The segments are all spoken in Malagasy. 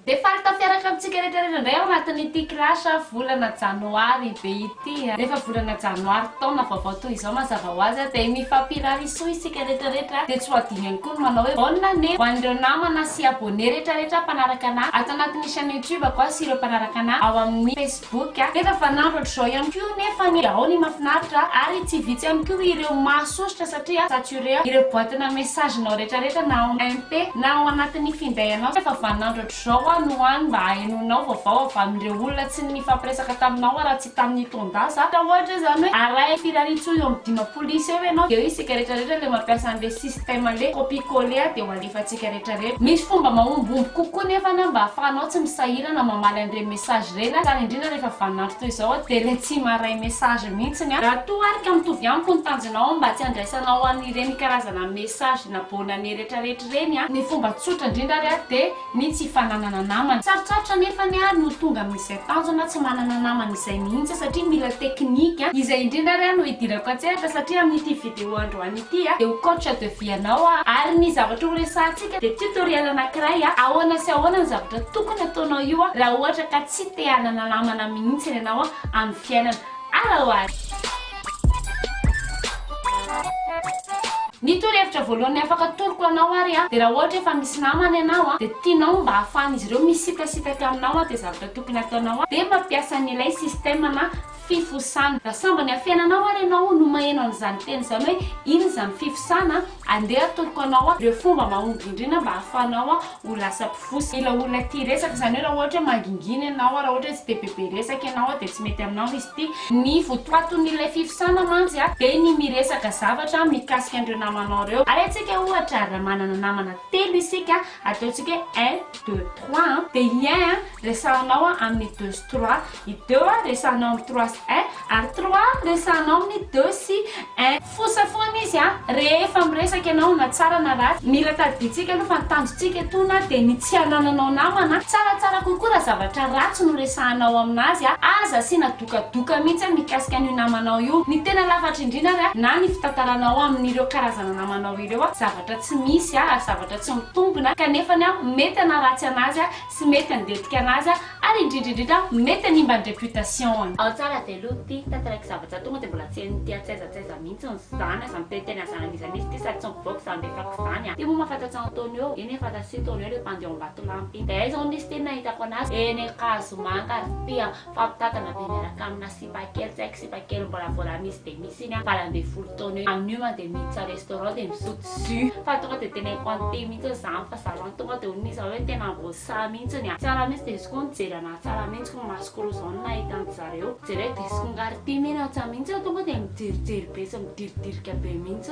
Dia faly tafiaraka amintsika rehetra rehetra indray ao anatin'ity clash volana janoary be ity. Rehefa volana janoary taona vaovao toy izao mazava ho azy dia mifampirary soa isika rehetra rehetra. Dia tsy ho adino ihany koa ny manao hoe bonne année ho an'ireo namana sy abonné rehetra rehetra mpanaraka an'ahy ato anatin'ny chaîne YouTube-ko sy ireo mpanaraka an'ahy ao amin'ny Facebook. boky a! Efa fanandro hatr'izao ihany koa nefa ny ao ny mafinaritra ary tsy vitsy ihany koa ireo mahasosotra satria saturé ireo boatina message-nao retraretra na ao MP na ao anatin'ny finday anao efa vanandro hatr'izao aho no any mba ahenoinao vaovao avy amin'ireo olona tsy nifampiresaka taminao aho raha tsy tamin'ny taon-dasa ka ohatra izany hoe arahy firariantsoa eo amin'ny dimampolo isa eo ianao dia hoe isika retraretra ilay mampiasa an'ilay système ilay copie coller dia ho antsika rehetra rehetra. Misy fomba mahombomby kokoa nefa na mba afahanao tsy misahirana mamaly an'ireny message ireny ary indrindra rehefa vanin'andro toy izao dia ilay tsy maharay message mihitsy ny Raha toa ary ka mitovy amiko ny tanjonao mba tsy handraisanao an'ireny karazana message na bonne année rehetra rehetra ireny ny fomba tsotra indrindra ary dia ny tsy fananana namana. Sarotsarotra anefa ny ahy no tonga amin'izay tanjona tsy manana namana izay mihitsy satria mila teknika. Izay indrindra ary no hidirako an-tsehatra satria amin'ity video androany ity. Ity dia ho coach de vie anao aho ary ny zavatra ho resahantsika dia tutoriel anankiray ahoana sy ahoana ny zavatra tokony hataonao io raha ohatra ka tsy te hanana namana mihintsiny ianao amin'ny fiainana. Ara ho ara. Ny torohevitra voalohany afaka atoroko anao ary dia raha ohatra efa misy namana ianao dia tianao mba hahafahan'izy ireo misitasitaka aminao dia zavatra tokony hataonao dia mampiasa an'ilay système na fifosana. Raha sambany amin'ny fiainanao ary ianao no maheno an'izany teny izany hoe inona izany fifosana, andeha atoroko anao ireo fomba mahomby indrindra mba hahafahanao ho lasa mpifosa ilay olona tia resaka. Izany hoe raha ohatra hoe mangingina ianao, raha ohatra hoe tsy dia bebe resaka ianao dia tsy mety aminao izy ity. Ny votoatin'ilay fifosana mantsy dia ny miresaka zavatra mikasika an'ireo namanao ireo. Arehantsika ohatra raha manana namana telo isika, ataontsika hoe un, deux, trois an, dia i un resahanao amin'ny deux sy trois. I deux a resahanao amin'ny trois sy un ary trois a resahanao amin'ny deux sy un. Fosa foana izy a! Rehefa miresaka ianao na tsara na ratsy, mila tadidintsika aloha fa ny tanjontsika etoana dia ny tsy hanananao namana, tsaratsara kokoa raha zavatra ratsy no resahanao aminazy a! Aza asiana dokadoka mihitsy a mikasika an'io namanao io! Ny tena lafatra indrindra ary a, na ny fitantaranao amin'ireo karazana namanao ireo a, zavatra tsy misy a, ary zavatra tsy mitombina, kanefany a mety hanaratsy anazy a, tsy mety handetika anazy ary indrindra indrindra mety hanimba ny reputation-ny. Ao tsara dia lo ty tantaraiky zavatra tonga dia mbola tsy henony ty atsy aiza tsy aiza mihintsy ny zany aza miteny teny anzara an'iza misy ty sady tsy mivoaka zany be fako zany an! Ty moa mahafantatsa an'i Tonio, eny efa aza tsy Tonio le mpandio am-batolampy iny, dia aiza hono izy ty ny nahitako anazy? Eny an-kazomanga ry ty an! Fampitantana be miaraka amina sipa kely tsy haiko sipa kely mbola vola misy dia misy iny a valo ambin'ny folo taona eo amin'io mantsy dia miditra restaurant dia misotro jus fa tonga dia tena impante mihitsy hoe zany fa zany tonga dia hono izy avy eo tena voasahy mihitsy ny a tsara mihitsy dia izy koa nijery anahy tsara mihitsy koa masoko roa izao no nahita an-dry zareo jereo dia izy koa nga ry tim iny aho tsa mihitsy tonga dia mijerijery be sy midiridrika be mihitsy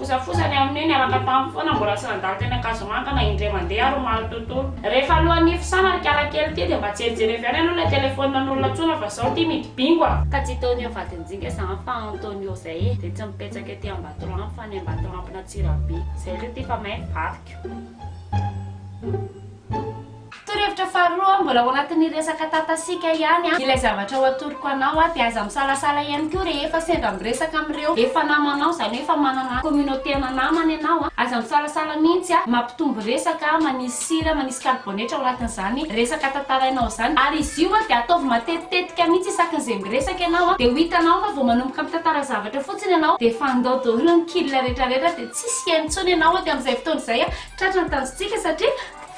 Fosafosa ny amin'io, niaraka taminy foana mbola tsy nandalo teny Ankazomanga na indray mandeha ary omaly tontolo. Rehefa alohan'ny hifosanana ry kala kely ity dia mba jerijery avy any aloha ilay telephone nanolona tsona fa zao ity midi bingo a! Ka tsy Tonio vadinjinga zany fa Antonio zay e! Dia tsy mipetsaka ety Ambatolampy fa any Ambatolampin'Antsirabe. Zay re ty fa may ny vadiko. Torohevitra faharoa, mbola ao anatin'ny resaka tatasika ihany ilay zavatra ho atoroko anao dia aza misalasala ihany koa rehefa sendra miresaka amin'ireo efa namanao, izany hoe efa manana communauté-na namana ianao, aza misalasala mihitsy mampitombo resaka, manisy sira, manisy karibonetra ao anatin'izany resaka tantarainao izany ary izy io dia ataovy matetitetika mihitsy isakin'izay miresaka ianao dia ho hitanao fa vao manomboka mitantara zavatra fotsiny ianao dia efa handao daholo ny kil retraretra dia tsisy hihaino intsony ianao aty amin'izay fotoana izay Tratra ny tanjontsika satria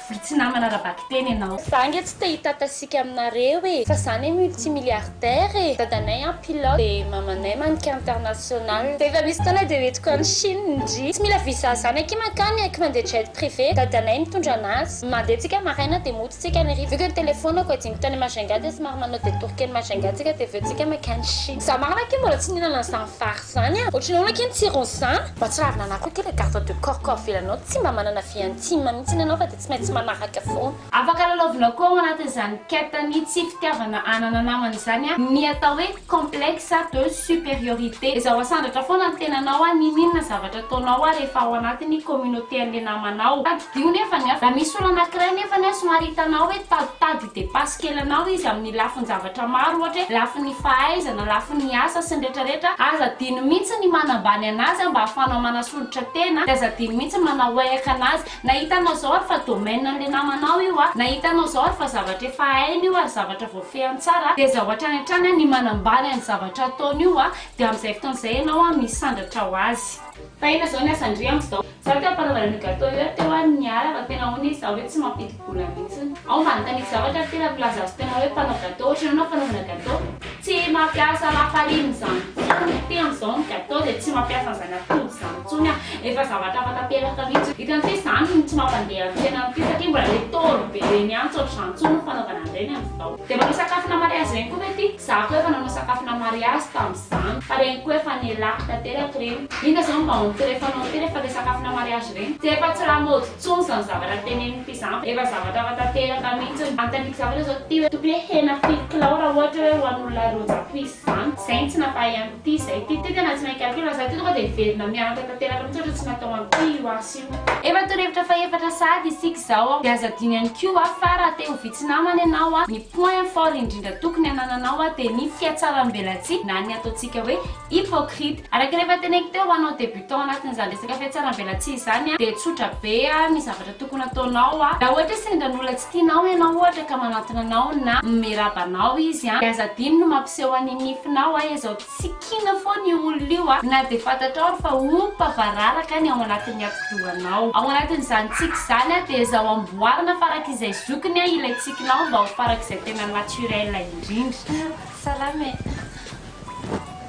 vory tsy namana ara-bakiteny ianao. Za nge tsy te hitata sika aminareo e fa za ne multi milliardaire e dadanay an pilote de mamanay mannequin international rehefa misy fotoana de hoentiko any chine ndry tsy mila visa zany akia mankany aky mandeha jet privé dadanay mitondra anazy mandeha tsika maraina de mody tsika any hariva vu que ny telefonako adino tany majunga de somary manao detour kely majunga tsika de aveo tsika mankany chine za marina akia mbola tsy nihinana an'zany vary Zany an! Ohatry ny ahoana ké ny tsirony zan? Mahatsiravina anah koa ity le garde de corps ko avela anao tsy mba manana vie intime mihitsiny ianao fa dia tsy maintsy manaraka foana. Afaka lalaovina koa ao anatin'izany quête ny tsy fitiavana hanana namana izany an, ny atao hoe complexe de supériorité. Ezaho asandratra foana ny tenanao an, n'inon'inona zavatra ataonao an rehefa ao anatin'ny communauté an'ilay namanao. Tadidio nefany an, raha misy olona anankiray nefany an somary hitanao hoe taditadika, Depasse kely anao izy amin'ny lafin-javatra maro ohatra hoe lafin'ny fahaizana, lafin'ny asa sy ny retraretra, aza adino mihitsy ny manambany anazy mba ahafahanao manasolitra tena dia aza adino mihitsy manao wahek anazy na hitanao zao ary fa domaine an'le namanao io a, na hitanao zao ary fa zavatra efa hainy io ary zavatra voafehiny tsara dia aza ho hatrany hatrany ny manambany an'ny zavatra ataony io a, dia amin'izay fotoana izay ianao misandratra ho azy. Tahina zao ny asan-dry amin'izao. Zah teo am-panamboarana gateau eo teo aho no niala fa tena hono izaho ve tsy mampidi-bola mihitsiny. Aho mba nitaniky zavatra ary tena milaza azy tena hoe mpanao gateau ohatry ny anao fanaovana gateau. Tsy mampiasa lafarine izany intsony ny tena amin'izao ny gateau dia tsy mampiasa an'izany atody izany intsony aho. Efa zavatra hafa tanteraka mihitsy. Hitanao ve izany no tsy mampandeha ny fiainana amin'ity satria mbola le tôro be ireny ihany tsy ohatr'izany intsony ny fanaovana an'ireny amin'izao. Dia manao sakafona mariazy ireny koa ve ty? Za koa efa nanao sakafona mariazy tamzany fa reny koa efa nialako tanteraka reny. Inona zany mba on ty refa anao ty refa le sakafona mariazy reny? Tsy efa tsy lamaody tsony zany zavatra teneniny ty zany fa efa zavatra hafa tanteraka mintsiny. Anontaniko zavatra zao ty hoe tokony hoe hena firy kilao ra ohatra hoe ho an olona roa zato isa zany? Zay no tsy nampahay an ty zay ty. Ty tena tsy mahay calcul za ty tonga dia hiverina mianatra tanteraka mintsy ohatra tsy natao an ty io asa io. Efa torohevitra fahefatra sahady isika izao dia aza adino ihany koa fa raha te ho vitsy namana ianao, ny point fort indrindra tokony hanananao dia ny fihatsaram-belatsihy na ny ataontsika hoe hypocrite. Araka ny efa teneniko teo, ho anao débutant anatin'izany resaka fihatsaram-belatsihy izany dia tsotra be ny zavatra tokony ataonao. Raha ohatra hoe sendra ny olona tsy tianao ianao ohatra ka manantona anao na miraba anao izy dia aza adino ny mampiseho an'ny nifinao izao Tsy kiana foana io olona io a! Na dia fantatrao ary fa ompa vararaka ny ao anatin'ny atidohanao. Ao anatin'izany tsiky izany a, dia ezao amboarina farak'izay zokiny a ilay tsikinao mba ho farak'izay tena naturel indrindra. Salama e!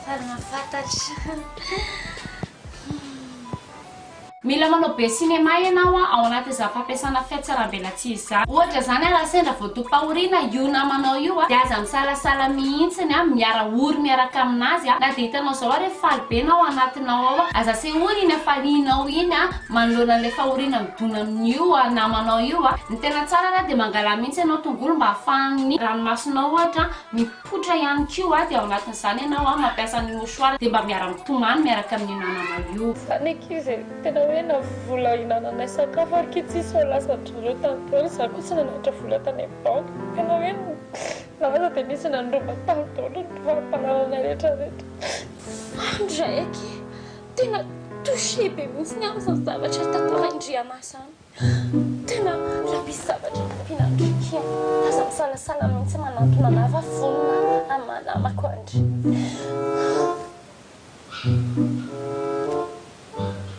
Faly mahafantatra. io. Mila manao be cinéma ianao a, ao anaty izany fampiasana fiatsarambelatsihy izany. Ohatra izany a, raha sendra vao dopahoriana io namanao io a, dia aza misalasala mihitsiny a, miara ory miaraka aminazy a, na dia hitanao izao ary hoe faly be na ao anatinao ao a, aza asehoy iny hafalianao iny a, manoloana an'ilay fahoriana midona amin'io namanao io a. Ny tena tsara ara dia mangalà mihitsy ianao tongolo mba ahafahan'ny ranomasonao ohatra a, Poitra ihany koa a, dia ao anatin'izany ianao a, mampiasa ny mouchoir dia mba miara-mitomany miaraka amin'ny namana io. Za ny ankizy e, tena hoe na vola hinananay sakafo ary ki tsisy fa lasan-dry zareo tany daholo, za koa tsy nananatra vola tany amin'ny banky, tena hoe za aza dia nisy nandroba tany daholo ny fari-panananay rehetra rehetra. Maro ny raha eky e, tena touché be mihitsy ny ahy izany zavatra tantarain-dry Anah izany. Tena mila misy zavatra ampiana andry Ky a! Aza misalasala mihitsy manantona lava vonona amin'ny maha namako andry.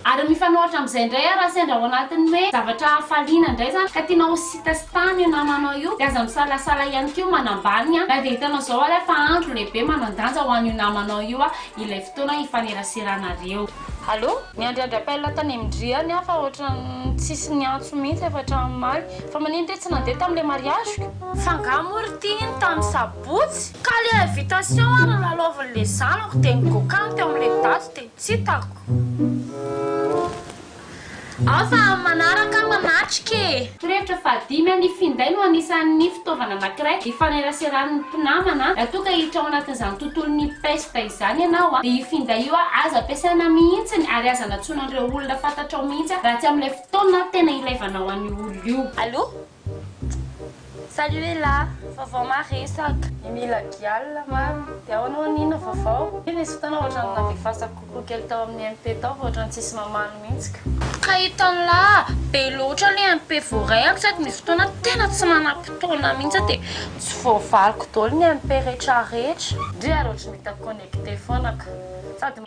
Ary mifanohitra amin'izay indray ary raha sendra ao anatin'ny hoe zavatra hafaliana indray izany ka tianao ho sitasitany io namanao io dia aza misalasala ihany koa manambany na dia hitanao izao ary aho fa andro lehibe manan-danja ho an'io namanao io ilay fotoana hifaneraseranareo. Allo, miandry andry appel tany am dry any aho fa ohatran'ny tsisy niantso mihitsy avy hatramin'ny omaly. Fa manino re tsy nandeha tamin'ilay mariaziko? F'angaha moa ry ty iny tamin'ny sabotsy? Ka le invitation ary nilalaovin'le zanako de nigokan teo amle daty de tsy hitako. Ao fa amin'ny manaraka aho manatrika e! Torohevitra fahadimy, Ny finday no anisan'ny fitaovana anankiray ifaneraseran'ny mpinamana. Raha toa ka hiditra ao anatin'izany tontolon'ny pesta izany ianao, dia io finday io aza ampiasaina mihitsy ary aza anatsoina an'ireo olona fantatrao mihitsy raha tsy amin'ilay fotoana tena ilaivanao an'io olona io. Allo, Salut Ella, vaovao maresaka. Ny mila gial mamy dia ahoana hono inona vaovao? Iny nisy fotoana ohatrany navefasako kokoa kely tao amin'ny MP tao fa ohatrany tsisy mamaly mihitsy ka. Ka hitanlah, be loatra le MP voarehako sady misy fotoana tena tsy manam-potoana mihitsy aho dia tsy voavaliko daholo ny MP retraretra. Ndry ary ohatry ny hita connecté foana ka. Sady.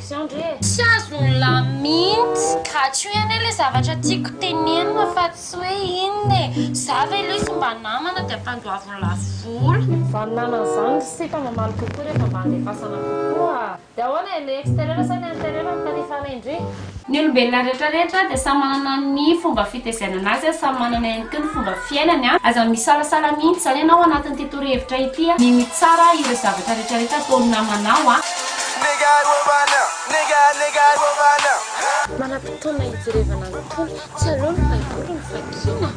Tsy azony lahy mintsy. Gatsio iany ilay zavatra tiako tenenina fa tsy hoe inona e. Za ve ilay izy mba namana dia ampandoaviny lafo vola. Zany namana zany ry sita mamaly kokoa rehefa mba andefasana kokoa. Dia ahoana e, le exterieur sa le interieur no tandrifana indrindra? Ny olombelona rehetra rehetra dia samy manana ny fomba fitezainana azy a, samy manana ihany koa ny fomba fiainany a, aza misalasala mintsy zany ianao anatin'ity torohevitra ity a, mino tsara ireo zavatra rehetra rehetra ataon'ny namanao a. Manam-potoana hijerevana ny Tompo, tsy aleo ny Baiboly no vakiana?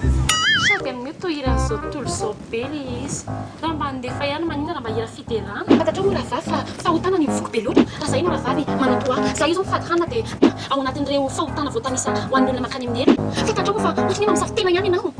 Sady amin'io tohiran'izao tontolo izao be le izy. Raha mba handefa ihany maninona raha mba hira fiderana. Fantatrao moa rahavavy fa fahotana ny mivoky be loatra? Raha izahay no rahavavy manam-po ahy, izahay izao mifady hanina dia ao anatin'ireo fahotana voatanisa ho an'ny olona mankany amin'ny helo. Fantatrao moa fa ohatry ny hoe mamosavy tena ihany ianao?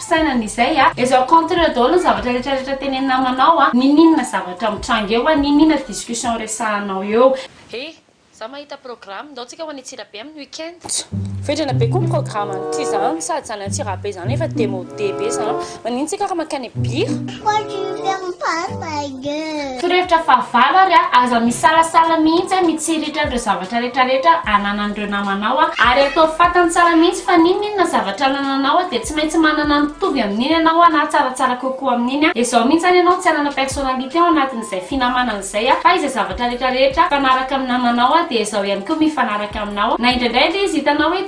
fisainana izay a! Ezo contrer daholo ny zavatra rehetra rehetra tenenin'ny namanao a! Niniana zavatra mitranga eo a! Niniana discussion resahanao eo! He! Za mahita programme, ndao tsika ho any Antsirabe amin'ny week-end. Tso! Vendrana be koa ny programme any ty zany, sady zany Antsirabe zany efa demode be zany, manino tsika raha mankany Bira? Quoi tu veux faire mon papa? Torohevitra fahavalo ary aza misalasala mihitsy mitsiritra an'ireo zavatra retraretra ananan'ireo namanao ary ataovy fantany tsara mihitsy fa n'inon'inona zavatra anananao dia tsy maintsy manana mitovy amin'iny ianao na tsaratsara kokoa amin'iny izao mihitsy any ianao tsy hanana personnalité ao anatin'izay finamanana izay fa izay zavatra retraretra mifanaraka amin'ny namanao dia izao ihany koa mifanaraka aminao na indraindray ary izy hitanao hoe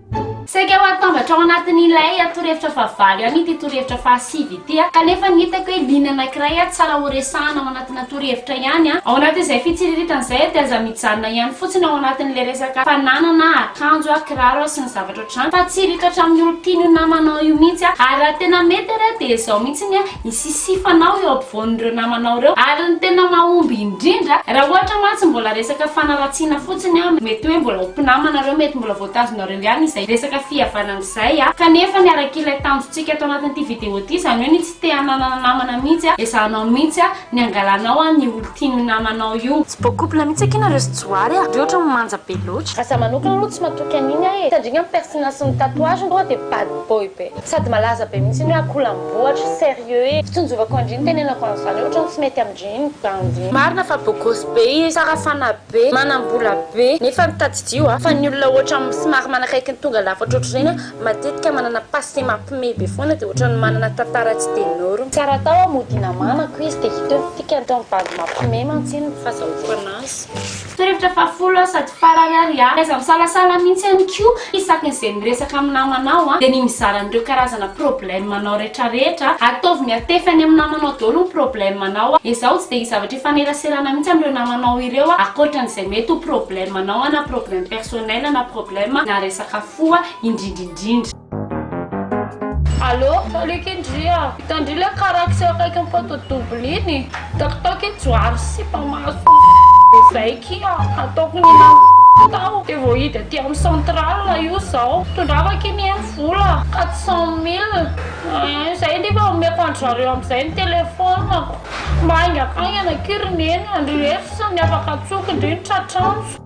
Saika ho atambatra ao anatin'ilay torohevitra fahavalo ihany ity torohevitra fahasivy ity, kanefa ny hitako hoe liana anankiray tsara horesahana ao anatina torohevitra ihany. Ao anatin'izay fitsiriritana izay dia aza mijanona ihany fotsiny ao anatin'ilay resaka fananana akanjo, kiraro sy ny zavatra ohatr'izany fa tsy hiritra hatramin'ny olon-tian'io namanao io mihitsy, ary raha tena mety ary dia izao mihitsy ny ny sisifanao eo ampovoan'ireo namanao ireo ary ny tena mahomby indrindra raha ohatra mantsy mbola resaka fanaratsiana fotsiny an, mety hoe mbola ho mpinamana ireo mety mbola voatazonareo ihany izay resaka fihavanana izay an, kanefa ny arak'ilay tanjontsika ato anatin'ity video ity izany hoe ny tsy te hananana namana mihitsy an, ezahanao mihitsy an ny angalanao an ny olon-tian'io namanao io. Tsy beau couple mihitsy akia nareo sy Johary a! Ry ohatra no manja be loatra. Raha za manokana aloha tsy matoky an'iny aho e! Satria ny persinasy ny tatouage tonga dia bad boy be. Sady malaza be mihitsy iny hoe akolambohatra, sérieux e! Fitonjovako an-dry ny tenenako an'izany hoe ohatran'ny tsy mety amin-dry ny bandy. Marina fa bogosy be izy, tsara fanahy be, manam-bola be, nefa ny tadidio a! Fa ny olona ohatra somary manakaiky ny tonga lafatra ohatr'ireny a, matetika manana passé mampime be foana dia ohatran'ny manana tantara tsy de norme. Tsy ara-tao a, mody hinamanako izy dia hita eo ny dikany, tao amin'ny bandy mampime mantsy iny ny fazahoako anazy. Torohevitra fahafolo sady farany ary a! Taiza misalasala mihintsy ihany koa isaky ny izay miresaka amin'ny namanao a! dia ny mizara an'ireo karazana problème anao rehetra rehetra a! Ataovy miatefy any amin'ny namanao daholo ny problème anao a! Ezaho tsy dia hisy zavatra hifaneraserana mihintsy amin'ireo namanao ireo a! Ankoatra an'izay mety ho problème anao a! na problème personnel na problème na resaka fo a! indrindra indrindra. Allo, salut Kendry a! Hitan-dry le karaky sy akaikin'ny photo double iny? Takitaky iny johary sy sipa maso be zay ki a! Ataoko ny hihinanako tao de voahidy aty amin'ny centrale io zao. Tondrava ki ny eny vola quatre cent mille ein! Zay ndry fa omeko an-dry zareo amin'izay ny telephone-ko. Mba haingakaingana ki ry neny a! Ndry reto sisa ny afaka antsoiko ndry ny tratranjo.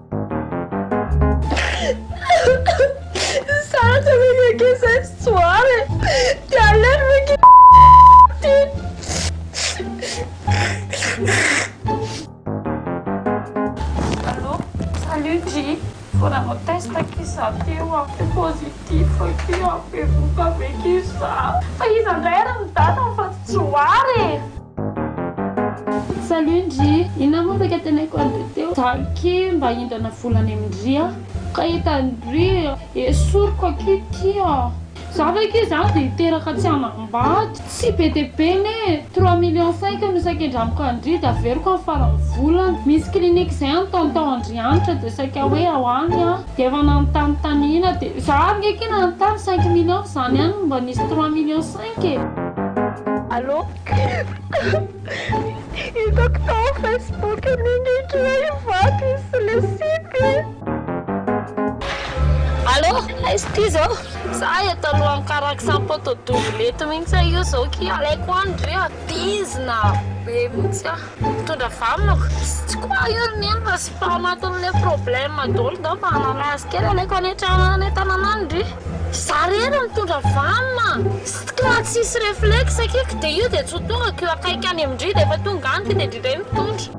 Sarotra ve ny ankizy zay tsy tsoara e? Ty aleo ve ki ty? Allô? Salut Dji! Vao nanao test ki za teo an, de positif ki an, bevohoka ve ki za? Fa iza ndray ary ny date fa tsy tsoara e? Salut ndry! Inona moa saika teneniko any dia teo? Za aky mba hindrana vola any amin-dry a! Ka hitan-dry esoriko aky ty a! Za ve aky izany dia hiteraka tsy hanambady? Tsy be dia be anie e! Trois millions cinq no saika indramiko an-dry dia averiko amin'ny faran'ny volana. Misy clinique izay any tonton Andrianitra dia saika hoe ao any aho. Dia efa nanontany taniana dia za ary nge aky nanontany cinq millions fa izany ihany no mba nisy trois millions cinq e! Allô! Hitako tao Facebook an'iny kila i Vato izy sy le sipy e. Allô, aiza ty zao? Za eto alohan'ny karax am poto double eto mihitsy io zao ki alaiko any re a, bizina be mihitsy ah. Mitondra vamoka? Tsy quoi io ry neny fa tsy fa anatin'ilay problème daholo ndao fa hanana azy kely alaiko any an-trano any an-tanana any ndry. Za rery no mitondra vam a! Sstka raha tsisy reflexe kik dia io dia tsy ho tonga ko akaiky any amin-dry dia efa tonga any ity dia dry indray mitondra.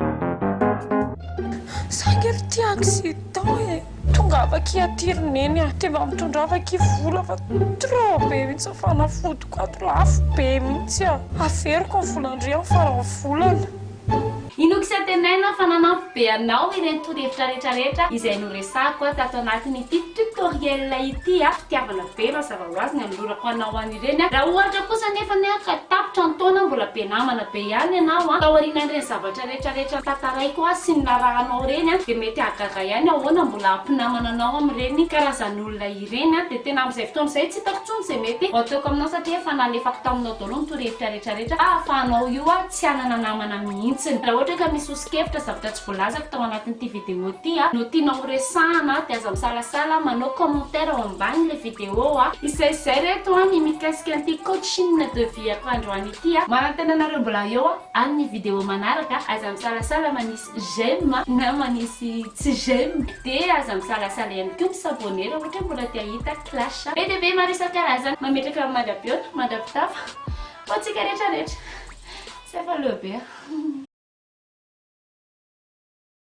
Saingy ry tia accident e! Tongava akia aty ry neny a! Dia mba mitondrava akia vola fa trop be mihitsy ny fanafodiko ato, lafo be mihitsy a! Averiko ny volan-dry amin'ny faran'ny volana. Inoako sy antenaina fa nanampy be anao ireny torohevitra rehetra rehetra izay noresahako tato anatin'ity tutoriel ity a! Fitiavana be mazava ho azy ny anolorako anao an'ireny a! Raha ohatra kosa anefany ka tapitra ny taona mbola be namana be ihany ianao a! Taorianan'ireny zavatra ireny. Rehetra rehetra tantaraiko azy sy ny narahanao ireny a dia mety hahagaga ihany ahoana mbola hampinamana anao amin'ireny karazan'olona ireny a dia tena amin'izay fotoana izay tsy hitako intsony izay mety ho ataoko aminao satria efa nalefako taminao daholo ny torohevitra rehetra rehetra fa ahafahanao io a tsy hanana namana mihintsiny raha ohatra ka misy ho sokevitra zavatra tsy voalazako tao anatin'ity video ity a no tianao ho resahana dia aza misalasala manao commentaire ao ambanin'ilay video a izay izay reto a ny mikasika an'ity coaching de vie-ko androany ity a manantena anareo mbola eo a. Amin'ny video manaraka, aza misalasala manisy j'aime na manisy tsy j'aime, dia aza misalasala ihany koa mi s'abonner raha ohatra hoe mbola te hahita clash be dia be maro isan-karazany mametraka mandra-pihaona, mandra-pitafa ho antsika rehetra rehetra. Tsy afa-leo be aho.